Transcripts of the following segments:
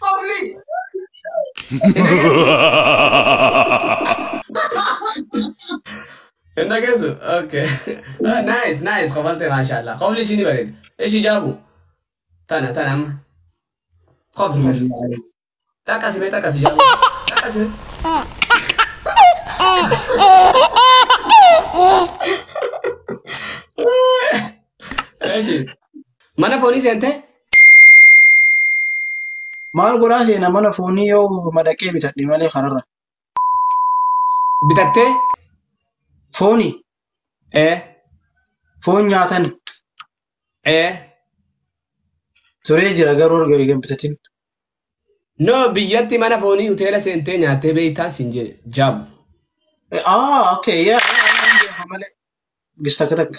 Probably. Hin dhageessu? Okay. Ah, Nice, nice. Kofalte maashaallah. Kofli ishii ni bareeda. Ishii jaabu. Tana, tana amma. Kofli. Xaqqasi mee xaqqasi jaabu. Xaqqasi mee. Ishii. Mana foonii seentee? Maal godhaa seena mana foonii yoo madaqee bitadhe malee kanarra. Bitattee? Fooni Ee. foon nyaatan Ee. turee jira garuu erga eegan bitatin. No biyyatti mana foonii hoteela seentee nyaattee beektaan siin jee jaabu. Ah okay yaa malee gis takka takka.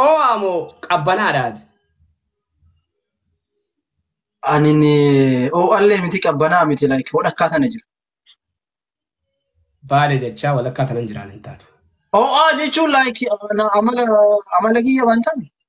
Oo'aa moo qabbanaadhaati? Ani oo'allee miti qabbanaa miti like walakkaa tana jira. Baale jechaa walakkaa tanan jiraan hin taatu. Oo'aa jechuun like amala amala kiyya waan ta'an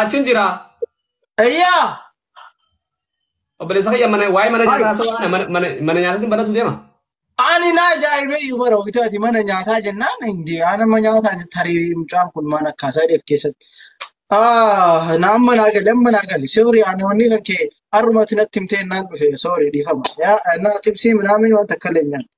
Achiin jira. Eyyaa! Obboleessa kiyya mana waa'ee mana nyaataa haasawaa kana mana- mana mana nyaataatiin banatu deema. Ani na ajaa'ibee iyyuu bara wayitaati mana nyaataa jennaan hindi anama nyaataa tarii mucaan kun maal akka isaa dheef keessatti. Ah, na amma naa gale amma naa gale soori ani wanni kan kee har'umatti natti himtee naan dhufe soori dhiifama. Yaa na tibsii minaamin waan takka illee nyaan.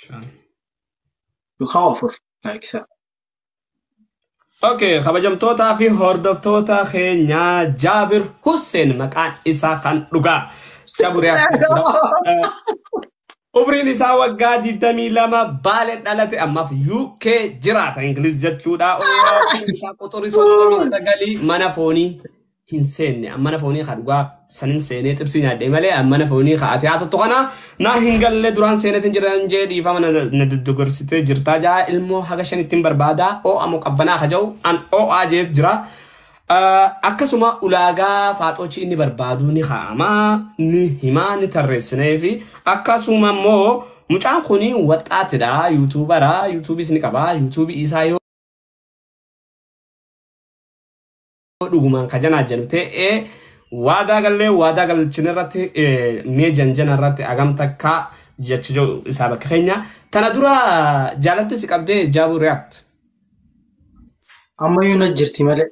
shan. Dukaa ofur laakisaa. Okay, kabajamtootaa fi hordoftoota keenyaa Jaabir Hussein maqaan isaa kan dhugaa. Jaabir Umriin isaa waggaa 22 baale dhalate ammaaf UK jiraata Ingiliz jechuudha. Umriin isaa quxurii 39 mana foonii. hin seenne ammana foonii haa dhugaa sanin seenee xibsii nyaadhee malee ammana foonii haa ati haasattu kana naa hin galle duraan seenetin jiran jee dhiifama na na doggorsitee jirtaa jaa ilmoo haga shan ittiin barbaadaa oo'a moo qabbanaa haa ja'u an oo'aa jeet jira. Ah, Akkasuma ulaagaa faaxoochi inni barbaadu ni kaa'ama ni hima ni tarreessinee fi akkasuma immoo mucaan kun waxxaatidha yuutuubara yuutuubiis ni qaba yuutuubii isaa yoo Yoo dhugumaan ka janaa jennu ta'ee waadaa gallee waadaa galchin irratti eh, mee janjana irratti agam takka jecha jiru isaa bakka keenya. Tana dura jaalattiin si qabdee jaabuu react. Ammayyuu na jirti malee.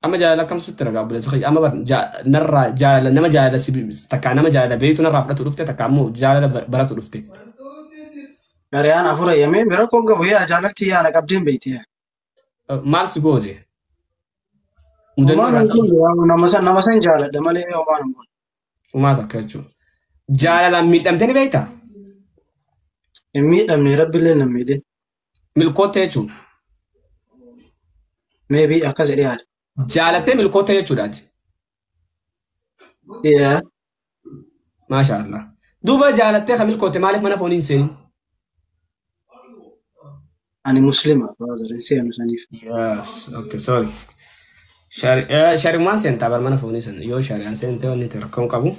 Amma jaalala akkam sitti ragaa obboleessa kiyya amma bar ja- narraa jaalala nama jaalala si takka nama jaalala beektu narraa fudhatu dhufte takka ammoo jaalala bar- baratu dhufte. Gariyaan afur eeyyamee bira koo gabu yaa jaalalti yaa na qabdeen beekti. maal si goote? Mudannoo Homaa irraa hin qabdu. goone yaa nama san nama san jaaladha malee homaa hin goone. Umaa takka jechuudha. Jaalalaan miidhamtee ni beektaa? Hin miidhamne rabbillee hin miidhin. Milkoottee jechuudha. Meebii akkas jedhee yaada. Jaalattee milkoottee jechuudha ati. Yeah. Maasha Allah. Duuba jaalattee kan milkoote maaliif mana foonii hin seenin? Ani muslima brother hin seenu saniif. Yes, okay, sorry. Shari- eh, Shari'umaan seentaa bar mana foonii sana yoo shari'aan seentee wanni itti rakkoon qabu.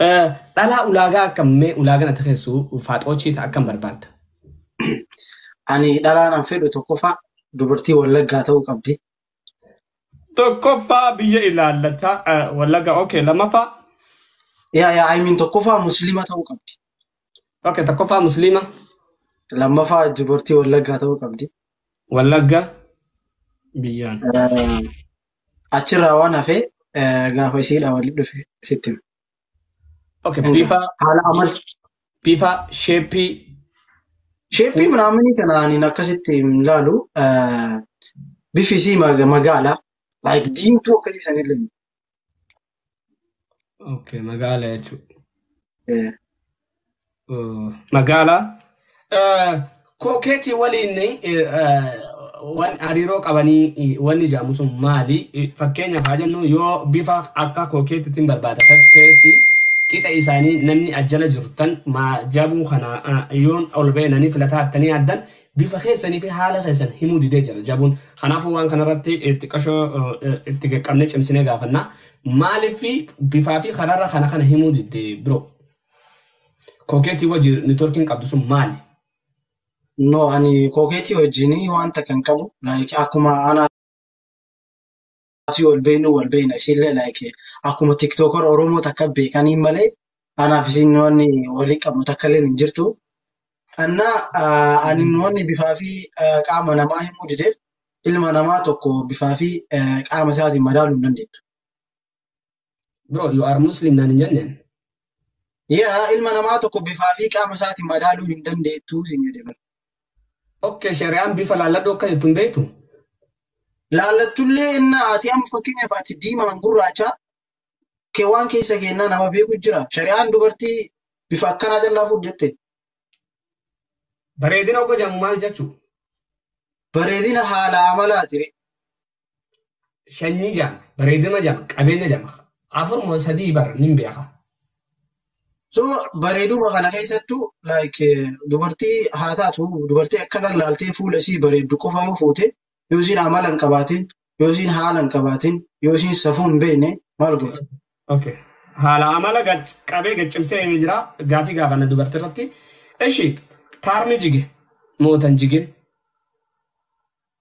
Eh, Dhalaa ulaagaa akka mee ulaagaan ati keessu faaxoochii ta'a akkam barbaadda? Ani dhalaan an fedhu tokkoffaa dubartii wallaggaa ta'uu qabdi. Tokkoffaa biyya ilaallata eh, wallaga okay lamaffaa Yaa yaa ayimiin tokkoffaa musliima ta'uu qabdi. okay tokkoffaa musliima Lammaffaa dubartii wallaggaa ta'uu qabdi. wallagga biyyaan. Eh, Achirraa waan hafee eh, gaafa isiidha walitti dhufe sitti hima. Okay, Egaa, bifa haala amal bifa sheeppii sheeppii minaaminii kana ani akkasitti hin ilaalu eh, bifi isii mag- magaala like diimtuu akkasii san illee okay, magaala jechuudha. eh, magaalaa kookeetii waliin waan hariiroo qabanii wanni jedhamu sun maali? Fakkeenyaaf haa jennu yoo bifa akka kookeetiitiin barbaada ta'essi qixa isaanii namni ajjala jirtan jabuu kana yoon ol beenanii filataa attanii addan bifa keessanii fi haala keessan himuu didee jira jabuun. Kanaafuu waan kanarratti xiqqashoo itti qaqqabnee cimsinee gaafannaa. Maaliif bifaa fi karaarra kana kana himuu didee biroo? Kookeetii wajji networkiin qabdu sun maali? No ani kookeetii wajjin wanta kan qabu like akkuma ana fi wal beeknu wal beekna isiillee like akkuma tiktoker oromoo takka beekaniin malee anaaf isin wanni walii qabnu takka illee hin jirtu. Anna ani wanni bifaa fi qaama namaa himuu dideef ilma namaa tokko bifaa fi qaama isaatiin madaaluu hin dandeenyu. Bro, you are Muslim naan hin jenneen. Yaa ilma namaa tokko bifaa fi qaama isaatiin madaaluu hin dandeettu siin jedhe bara. Okay, shari'aan bifa laalladhu akka jettu hin beektu. Laallattullee innaa ati amma fakkeenyaaf ati diimaan gurraacha kee waan keessa keennaa nama beeku jira. Shari'aan dubartii bifa akkanaa callaa fuudh jette. Bareedina ogga jedhamu maal jechuu? Bareedina haala amalaati. shanyii jama bareedina jama qabeenya jama afur moo sadii bar nin beeka. So bareeduma kana keessattuu like dubartii haa taatu dubartii akkana laaltee fuula isii bareeddu qofa yoo fuute yoo isiin amala hin qabaatin yoo isiin haala hin qabaatin yoo isiin safuu hin beekne maal goote? Okay. Haala amala gad- qabee gad cimsee himee jira gaafii gaafanna dubartii irratti. Ishi taarmi jige mootan jigin.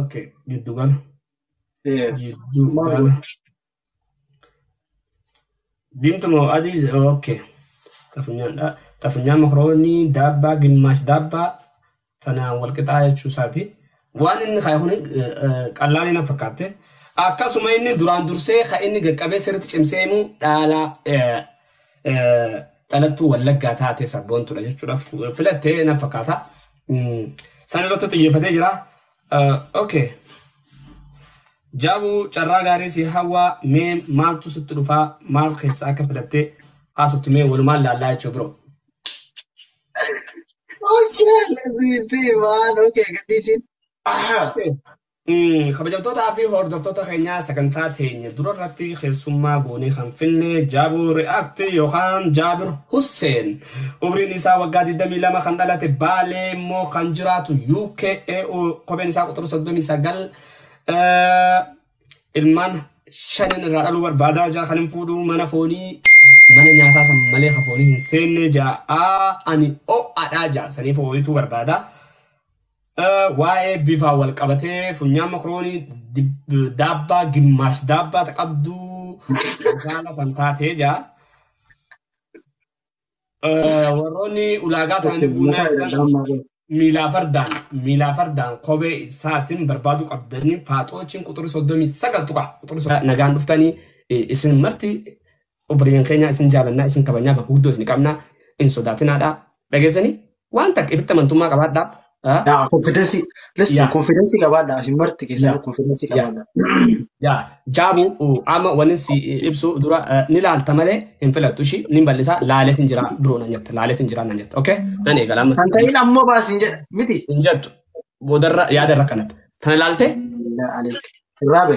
ok jiddu gala Yeah. jiddu Maal gala godha? diimtu moo adii se- ok xafunyaan dha xafunyaan makroonii daabbaa gimmaash daabbaa tanaan wal qixaa jechuu isaati waan inni kaaye kun qallaan na fakkaatte akkasuma inni duraan dursee ka inni gaqqabee sirriitti cimsee himuu dhaalaa eh, dhalattuu wallaggaa taatee sabboontudha jechuudhaaf filattee nan fakkaata. San irratti xiyyeeffatee jira. Okay. Jaabuu carraa gaarii si hawwaa mee maaltu sitti dhufaa maal keessaa akka filattee haasoftu mee walumaan laallaa jechuudha biroo. Okay, let's see, man. Okay, gadhiisin. Umm kabajamtootaa fi hordoftoota keenyaa sagantaa teenya dura irratti keessummaa goonee kan finne Jaabuu React yookaan Jaabir Husseen umriin isaa waggaa 22 kan dhalate Baalee immoo kan jiraatu UK EU kopheen isaa quxura 39 eh, ilmaan shanin irraa dhaluu barbaadaa jaa kan hin fuudhu mana foonii mana nyaataa san malee kan foonii hin seenne jaa ani o'adhaa jaa saniif ooyituu barbaadaa. Waa'ee bifaa wal qabatee funyaan makroonii daabbaa gimmaash daabbaa ta qabduu magaala kan taatee jaa. Warroonni ulaagaa ta'anii buunaa jedhan miilaa fardaan miilaa fardaan kophee isaatiin barbaaduu qabdanii faaxoochiin quxurii soddomii sagal tuqa quxurii nagaan dhuftanii isin marti Obboliiwwan keenya isin jaalannaa isin kabajnaa bakka guddoo isin qabnaa hin sodaatinaadha. Dhageessanii waan takka ifitti amantummaa qabaadhaa. Ah, Yaa confidence listen Yaa. confidence qabaadha isin marti keessan Yaa. confidence Yaa. qabaadha. Yaa jaabuu uh, amma wanni si ibsu dura uh, ni laalta malee hin filattu ishii ni bal'isa laaleet hin jira biroo nan jetta laaleet hin jira nan jetta okay nan eegala amma Kan ta'in ammoo baasin jedha miti. hin jettu boodarra yaadarra kanatti tana laaltee Alhamdulillah aleek. Raabe.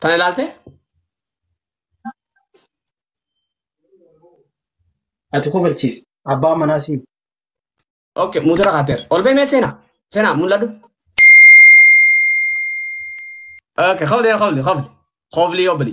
Tana ilaalte? Ati kofalchiisi. Abbaa manaa siin. Ok, muudara kaateera. Ol ba'e mee seenaa? Seenaa mul'adhu. Ok, kofli kofli kofli. Kofli obli.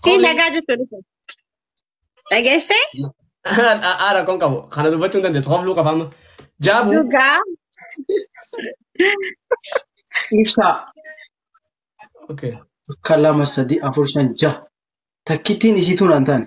Siin nagaa jechuun dhufe. Dhageessee? Aa rakkoon qabu. Kana dubbachuu hin dandeessu. Hofluu qaba amma. Jaabu. Dhugaa. Ibsaa. Okay. Akka lama sadii afur shan jaha. Takkittiin isiituu naan taane.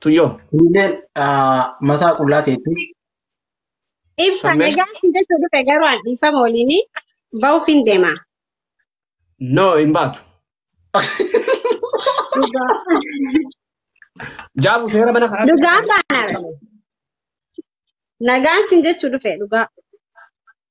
Tuyyoo. Kunilleen mataa qullaa teetti. Ibsa Sammee. nagaa si jechuu dhufe garuu an dhiifama waliin ba'uuf hin deema. No hin baatu. Jaabu seera mana kanaa. Dhugaan baana. Nagaan sin jechuu dhufe dhugaa.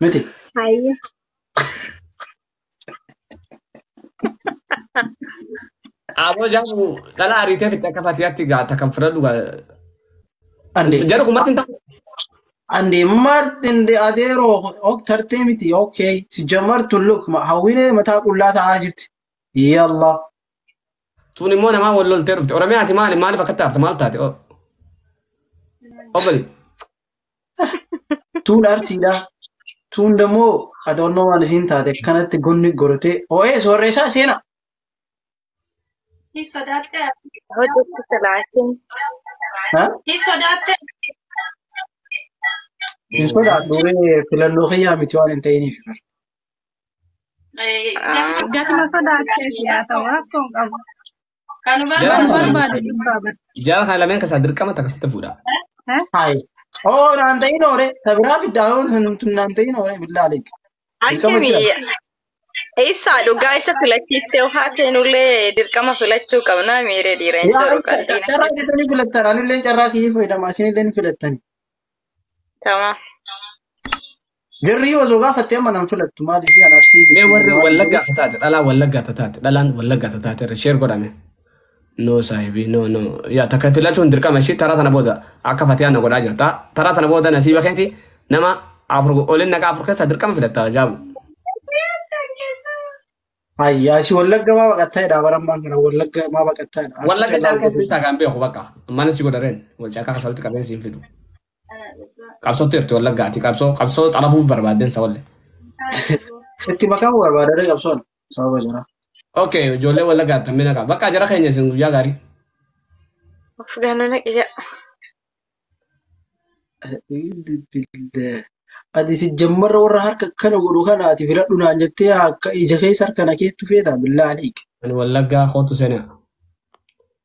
Miti. Hayye. Aboo jaamu dhala ariitee fidda akka fatiyaatti gaa takkan fudhadhu gaa. Andee. Jedhu kun matti hin taa'u. Andee Martin de Adero ok tartee miti okay si jamartu look ma hawwinee mataa qullaa ta'aa jirti. Yalla. Sun immoo namaa wal loltee dhufte. Oromiyaati maali maaliif akka taate maal taate? Obbali. Tuun arsiidha. Tuun dammoo adoonnoo waan isiin taate kanatti gonni gortee ho'ee soorreessaa seena. Hin sodaattee Hojjetti silaatiin. Ha? Hin sodaattee Hin sodaadhu ree filannoo kiyyaa miti waan hin ta'iniif. Gatuma sodaatteef yaa ta'u rakkoon qabu. Kan Jara barbaadu kana barbaade lameen dhibbaa bar. jara kana lameen keessaa dirqama takka sitti fuudha. Eh? Hai. Oh, naan ta'in oore. Tabiraa fiddaa yoo nuti naan ta'in oore billaa aleek. Dirqama Akkami jira. ibsaa dhugaa isa filachiistee haa teenullee dirqama filachuu qabnaa miiree dhiira hin Yaa jiru carraa qalbiin carraa akkasii. keessan ni filattan. Anillee carraa kiyya fayyadama. Isinillee ni filattani. Tamam. Jarri yoo osoo gaafatte amma nan filattu maaliif an arsii Mee miti warri maal wallaggaa godhu tataate dhalaa wallaggaa tataate dhalaan wallaggaa tataate irra sheer godhame. No saahibii no no yaa takka filatuun dirqama ishii taraa tana booda akka fatiyaan na godhaa jirta taraa tana booda nasiiba keeti nama afur olin naqa afur keessaa dirqama filatta jaabu. ayyaa si wallagga maa baqattaa jedha bara ammaan kana wallagga maa baqattaa jedha arsi Wallagga callaa jaalkee hojjetu keessaa kan beeku bakka mana si godhareen wal caakaa kasa walitti qabeen siin fidu. Qabsootti jirti wallaggaa ati qabsoo qabsoo xalafuuf barbaadden sawalle. Itti makamu barbaada dha qabsoon sababa jira. Ok ijoollee wallaggaa tammi naqa bakka jara keenya isin guyyaa gaarii. Of gaana naqiya. Ati si jammarra warra harka kana godhu kana ati filadhu naan jettee akka ija keessa harka na keettu feetaa billaa aliik. Ani wallaggaa kootu seenaa.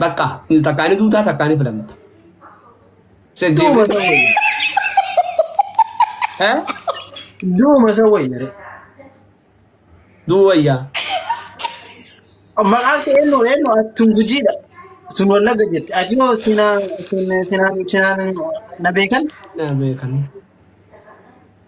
Bakka takkaa ni duutaa takkaa ni filamta. Duuma san wayya. Eh? Duuma san wayya re. Duu wayyaa. Maqaan kee eenyu eenyu atun gujiidha. Sun wallagga jirti. Ati yoo sina sina sina sina na beekan Na beekan.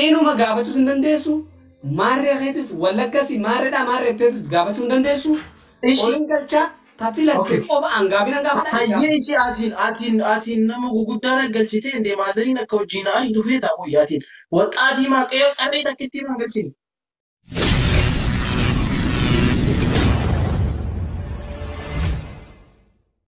Eenuma gaafachuus hin dandeessu, maarree keetis wallagga si maarreedhaa maarree jetteetis itti gaafachuu hin dandeessu. Ishi. Olin galchaa ta filatte Okay. qofa an gaafin an gaafadha. Hayyee ishee atiin atiin atiin nama guguddaa na galchitee indee maazariin akka hojii na aydu feetaa qoyyi atiin waxxaatii maa qeeqa qarree takkittii maa galchini.